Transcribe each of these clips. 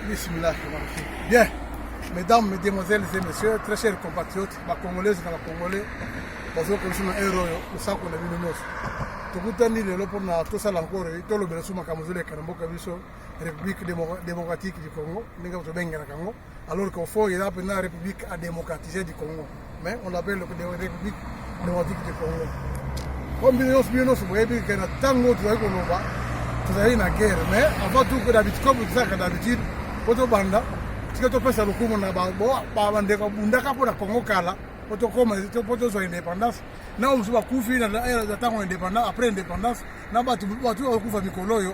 Bismillah, bien. Mesdames, mesdemoiselles et messieurs, très chers compatriotes, ba congolaises na ba congolais, bazo ko sima ero yo, osako na bino nyonso. Tokutani lelo mpo na tosala encore tolobela suma makambo ezoleka na mboka biso République démocratique du Congo, ndenge tobengelaka yango. alors qu'au fond eza mpenza république à démocratiser du congo mais on appelle république démocratique du congo po mbino nyonso bino nyonso boyebi ke na ntango tozali koloba tozali na guerre mais avant tout que d'habitude comme tozalaka d'habitude po tobanda tika topesa lokumu na bandeko abundaka mpo na congo kala po tokoma po tozwa indépendance na oyo mosusu bakufi na ntango ya indépendance après indépendance na bato bakufa mikolo oyo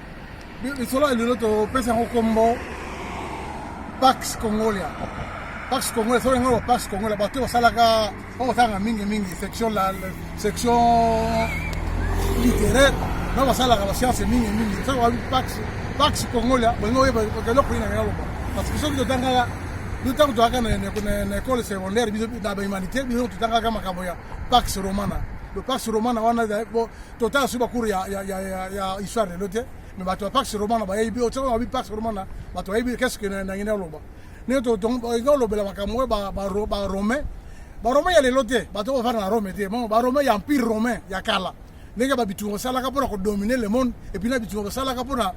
lisolo ya lelo topesa yango nkombo pax congolia pax congolia soki yango pax congolia bato oyo basalaka oyo basalaka mingimingi section section littéraire na basalaka basianse mingimingi soki babi pax pax congolia bolingi oyeba eloko nini naloba parce que soki totangaka biso ntango tozalaka na ekole secondaire biso na bahumanité biso totangaka makambo ya pax romana le pax romana wana totala soki bakuru ya, ya, ya, ya, ya histoire lelo te me bato ya pax romana bayebi otiaka babi pax romana bato bayebi keske nangi naloba ndenge tolingi olobela makambo oyo baromain baromain ya lelo te bato bafanda na rome te mo baromain ya empire romain ya kala ndenge babitungo basalaka mpona kodomine le monde epuis na bitungo basalaka mpona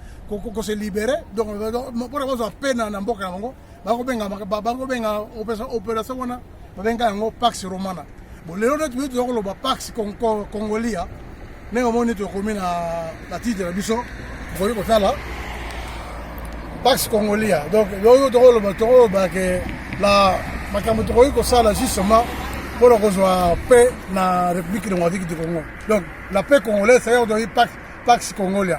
kose libere donc mpona bazwa pena na mboka na bango bakobenga bakobenga operation wana babenga yango pax romana bon lelo nde toyei toza koloba pax congolia ndenge omoni tokomi na batitre na biso bokoki kotala pax congolia donc oyo tokoloba tokoloba ke na makambo tokoki kosala justement mpo na kozwa paix na république démocratique du congo donc la paix congolaise c'est-à-dire pax congolia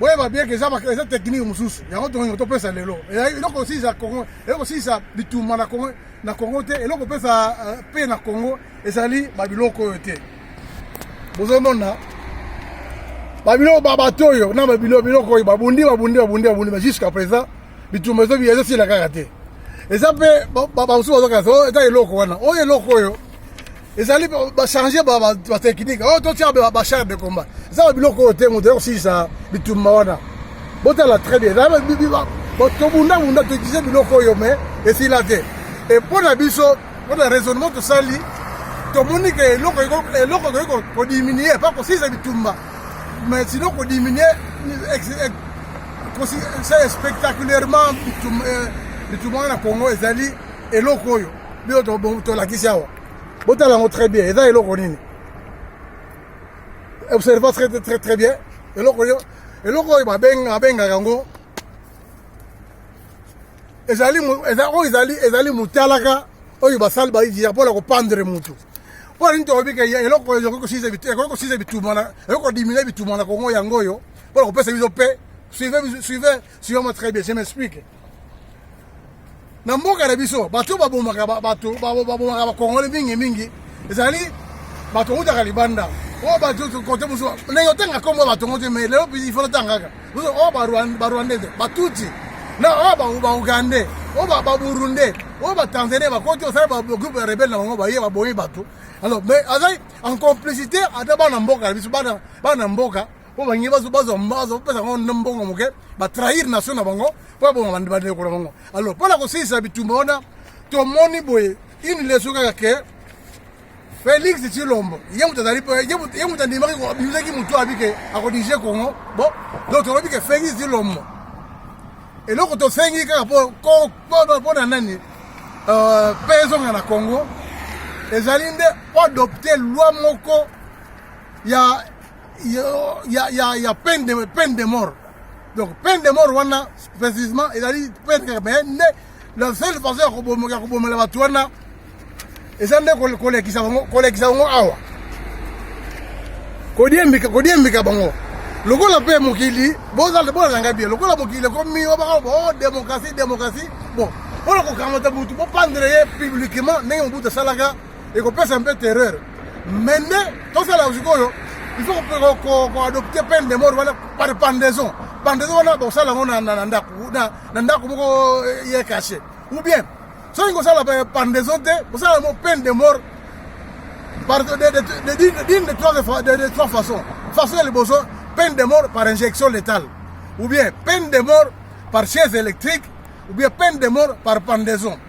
boyeba bien ke eza eza technique mosusu yango tongo topesa lelo eloko osilisa congo eloko osilisa bitumba na congo na congo te eloko opesa euh, mpe na congo ezali babiloko oyo te bozomona babiloko babato oyo na babiloko biloko oyo babundi babundi babundi babundi mais jusqu'à présent bitumba ezobi ezosila kaka te eza mpe bamosusu bazokasa oh, eza eloko wana oyo eloko oyo ezali bachange batechnike oyo totia bachare de combat eza ba biloko oyo te moto yakosilisa bitumba wana botala très bien tobundabunda toutilize biloko oyo me esila te e mpo na biso mpo na raisonnement tosali tomoni ke eloko eloko tokoki kodiminue epa kosilisa bitumba mais sino kodiminue spectaculairement bitumba wana na congo ezali eloko oyo biyo tolakisi awa botala yango très bien eza eloko nini observa très très très bien eloko yo eloko oyo babengaka yango ezali oyo ezali ezali motalaka oyo basali baizira mpo na kopandre motu mpo na nini tolobi ke eloko oyo ekoki kosisa bituma ekoki kodiminue bituma na kongo yango oyo mpo na kopesa biso mpe suive Suis moi très bien, je m'explique. Na mboka na biso, bato babomaka bato babomaka bakongole mingi mingi, ezali bato outaka libanda. Oh bato kote mosusu, ndenge otanga kombo bato ngo te, mais lelo il faut otangaka. Oh barwandais, batuti, na oh baugandais, oh baburundais, oh batanzanais, bakoti osali bagroupe ya rebelle na bango baye baboyi bato. Alors, mais azali en complicité ata bana mboka na biso, bana mboka mpo balingi bazwa bazopesa bango na mbongo moke batrahir nation na bango mpo baboma bandeko na bango alors mpo na kosilisa bitumba wana tomoni boye une leso kaka ke felix tshilombo ye moto azali ye moto andimaki abimisaki motu abi ke akodirige congo bo donc tolobi ke felix tshilombo eloko tosengi kaka mpo na nani euh, mpe ezonga na congo ezali nde oadopte loi moko ya ya, ya, ya peine, de, peine de mort donc peine de mort wana précisement ezali peine kaka mais nde la seule façon ya kobomela kobomela bato wana eza nde kolekisa bango kolekisa bango awa kodiembika kodiembika bango lokola mpe mokili bozalanga bie lokola mokili ekomi obaka bo oh, démocratie démocratie bon mpona kokamata motu bopandre ye publiquement ndenge mobutu asalaka ekopesa mpe terreur me nde tosala sikoyo il faut koadopte peine de mort wana par pendaison pendaison wana bakosala yango na ndako na ndako moko eh, ye cache ou bien soki kosala pendaison te kosala yango peine de mort par d'une de trois de trois façons façon ya liboso peine de mort par injection létale ou bien peine de mort par chaise électrique ou bien peine de mort par pendaison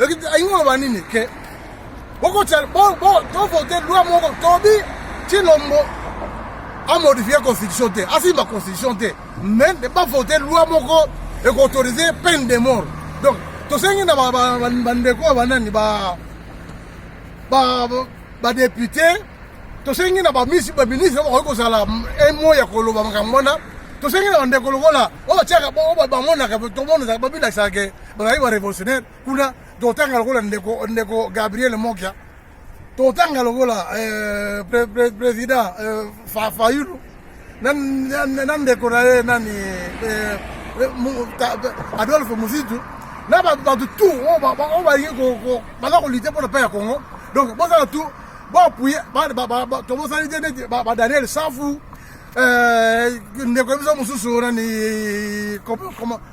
alingi oloba nini ke bokotia tovote loi moko tobi cilombo amodifie constitution te asimba constitution te mais bavote loi moko ekoautorise peine de mort donc tosengi na bandeko ya banani badepute tosengi na baministre bakoki kozala emo ya koloba makambo wana tosengi na bandeko lokola oyo batiaka bamonaka tomonaka babilakisaka bazali ba revolutionnaire kuna totanga lokola ndeko ndeko Gabriel Mokia totanga lokola eh, pre, pre, president eh, fa, Fayulu na, na, na ndeko na ye nani eh, Adolphe Muzitu na bato tu oyo balingi baza kolite mpo na mpe ya Congo donc bozala tu boapuye tobosali te neti ba Daniel Safu ndeko ye biso mosusu nani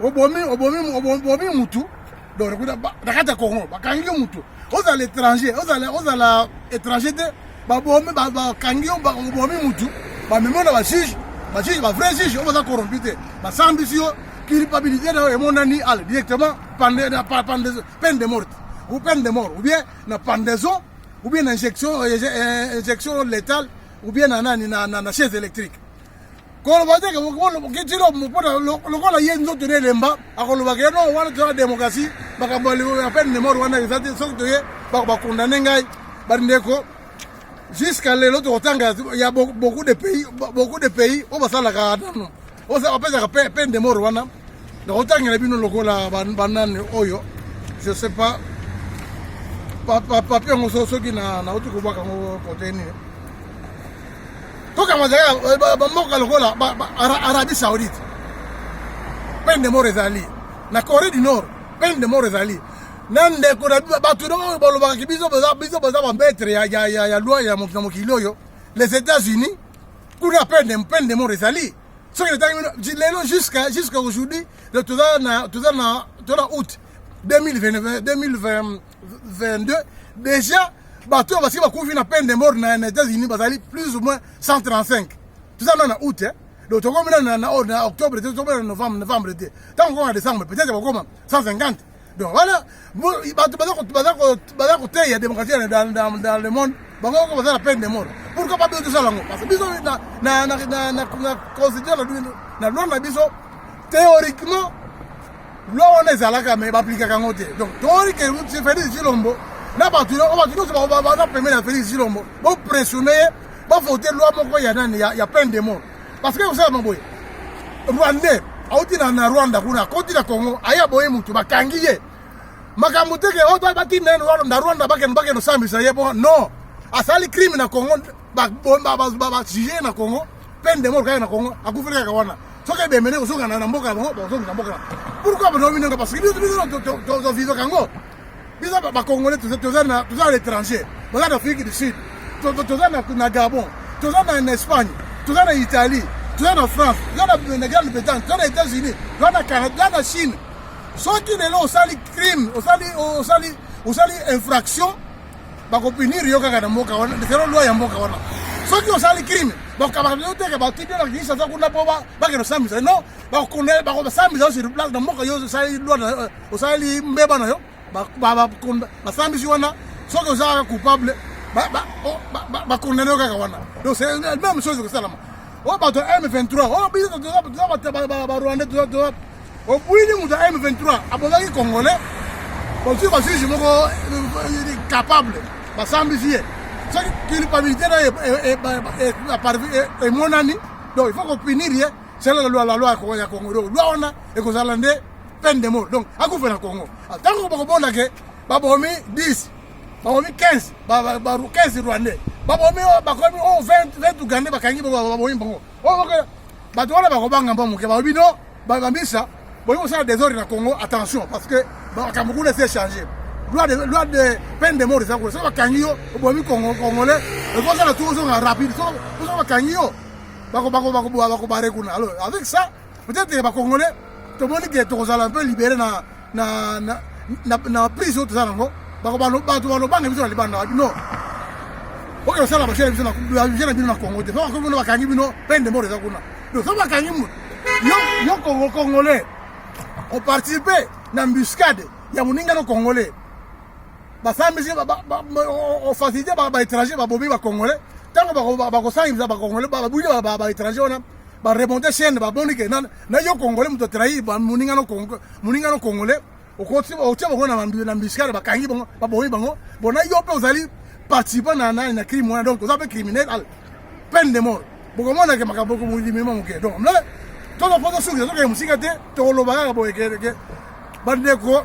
obomi obomi obomi mutu donc ekuta na kati ya congo bakangi yo moto ozala étranger ozala ozala étranger te babomi bakangi yo obomi motu bamemi yo na bajuge bajuge bavrai juge oyo baza corrompu te basambisi yo culpabilité na yo emonani ala directement peine de morte ou peine de mort ou bien na pendaison ou bien na injection euh, injection létale ou bien na nani na chaise électrique koloba te kitilo mpona lokola ye nzoto na elemba akolobaka ye non wana toza démocratie makambo ya peine de mort wana eza te soki toye bakondane ngai bandeko jusqu'à lelo tokotanga ya beaucoup de pays beaucoup de pays oyo basalaka nano bapesaka peine de mort wana nakotangela bino lokola banani oyo je sais pas papier yango soki nauti kobwaka yango kote nini tokanga ezalaka bamboka lokola arabie saoudite peine de mort ezali na corée du nord peine de mort ezali na ndeko na bato oyo balobaka ki biso biso boza bambetre ya loi ya mokili oyo les états-unis kuna peine de mort ezali soki etangi bino lelo jusqu'à jusqu'à aujourd'hui toza na toza na toza na août 2020 22 deja bato oyo basiki bakufi na peine de mort na na états-unis bazali plus ou moins 135 toza nano na août eh? donc tokomi nano na, na, oh, na octobre te tokomi na novembre novembre te ntango okoma décembre peut-être bakokoma 150 donc wana bato baza koteya démocratie dans le monde bango oko baza na peine de mort pourquoi pas biso tosala yango parce que biso na constitution na loi na biso théoriquement loi wana ezalaka me baaplikaka yango te donc tomoni ke felix zilombo na bato oyo bato nyonso baza pembeni ya felix zilombo bopressione ye bavote loi moko ya nani ya peine de mort parce que kosalama boye rwandais auti na rwanda kuna akoti na congo aye aboye motu bakangi ye makambo te ke oh, batinda ye na rwanda bakende bakende osambisa ye bo non asali crime na congo ba bomba ba ba ba sujet na Congo peine de mort kaka na Congo akufeli kaka wana soki ebemene kosoka na mboka na bango bakosoki na mboka na pourquoi bino bino nga parce que biso biso tozovivaka yango biso bacongolais toza na l'étranger toza na afrique du sud toza na gabon toza na espagne toza na italie toza na france toza na grande bretagne toza na états unis toza na canada toza na chine soki lelo osali crime osali osali osali infraction bakopinir yo kaka na mboka wana zero loi ya mboka wana soki osali crime bakokabaka yo teke batiki yo na kinshasa kuna mpo bakende osambisa no bakosambisa yo sur place na mboka yo osali loi eh, osali mbeba na yo basambisi wana soki oza kaka coupable bakondane yo kaka wana donc c'est même chose ekosalama oyo bato ya m23 oyo biso toza barwandais Obuini moto ya M23 abozaki congolais bozwi basusu moko euh, euh, capable basambisi ye soki culpabilité na emonani donc il faut kopinir ye sela la loi la loi ya Congo donc loi wana ekozala nde peine de mort donc akufe na Congo ntango bakobona ke babomi 10 babomi 15 15 rwandais babomi bakomi 20 ugandais bakangi babomi bango bato wana bakobanga mwa moke balobi no bamisa boyi kosala desordre na congo attention parce que makambo kuna esi echange loi de loi de peine de mort eza kuna soki bakangi yo obomi congolais ekosala tu ozonga rapide soki bakangi yo bakobare kuna alors avec ça peut-être bakongolais tomoni ke tokozala mpe libere na na na na, na prise oyo toza nango bato balobanga biso na libanda wapi no oyo osala basele biso navision na bino na congo te soki akoki bino bakangi bino mpe ndembo oyo eza kuna donc soki bakangi moto yo kongo congolais oparticipe na mbuscade ya moninga no congolais basambisi ofacilite baétranger babomi bacongolais ntango bakosangisa bacongolais babwili baétranger wana baremonte chaine baboni ke na yo congolais moto atrahi moninga no congolais okotia bango na mbiskare bakangi bango babomi bango bona yo mpe ozali participant na nani na crime wana donc oza mpe criminel al peine de mort bokomonake makambo limima moke donc mle tozopoza suki tozokende mosika te tokoloba kaka boye ke bandeko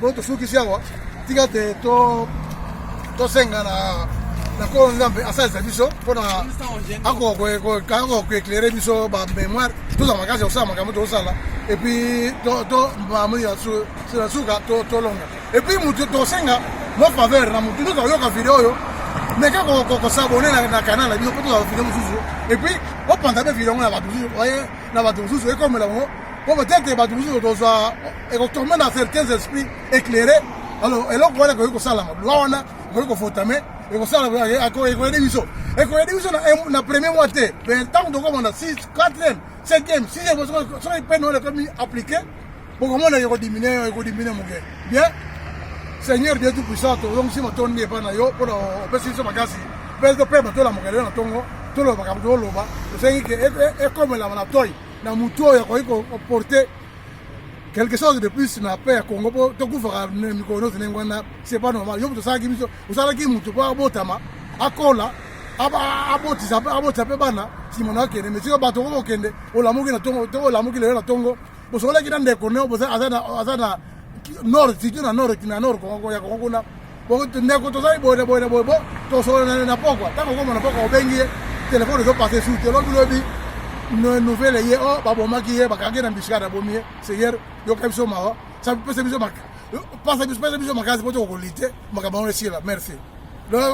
Bo tosukisi awa tika te to tosenga na na nkolo nzambe asalisa biso mpo na akokoeklere biso bamémoire toza makasi ya kosala makambo tokosala epuis na suka tolonga epuis motu tosenga mo faveur na motu nyonso akoyoka video oyo meka kosabone na kanal na biso mpo tozala video mosusu epuis opanza mpe video yango na bato mosusu na bato mosusu ekomela yango mpo peut-être bato mosusu tozwa ekotombe na certains esprits éclairé alors eloko wana ekoki kosalama loi wana ekoki kofotame ekosala ekoyede biso ekoyede biso na premier mois te mais ntango tokoma na 6 4 5 6 soki pene wana ekomi appliqué bokomona ekodiminue ekodiminue moke bien seigneur dieu tout puissant tozongisi matondi epai na yo mpona opesi biso makasi mpe topema tolamuka lelo na ntongo tolobaka toloba tosengi ke ekomelama na toi na motu oyo akoki koporte quelque chose de plus na paix ya congo mpo tokufaka mikolo nyonso ndenge wana c'est pas normal yo moto osalaki biso osalaki moto mpo abotama akola abotisa abotisa mpe bana nsima na okende mais sikoyo bato okoki kokende olamuki na tongo to olamuki lelo na tongo bosokolaki na ndeko neo aza na nord surtout na nord na nord ya kongo kuna ndeko tozali boye na boye na boye bo tosolana na pokwa ntango okoma na pokwa obengi ye telefone ezopase su te lobi lobi nouvelle ye o oh, babomaki ye bakangi na mbisika na bomi ye seigneur yoka biso mawa pesa biso pesa biso makasi mpo tokokolite makambo yango esila merci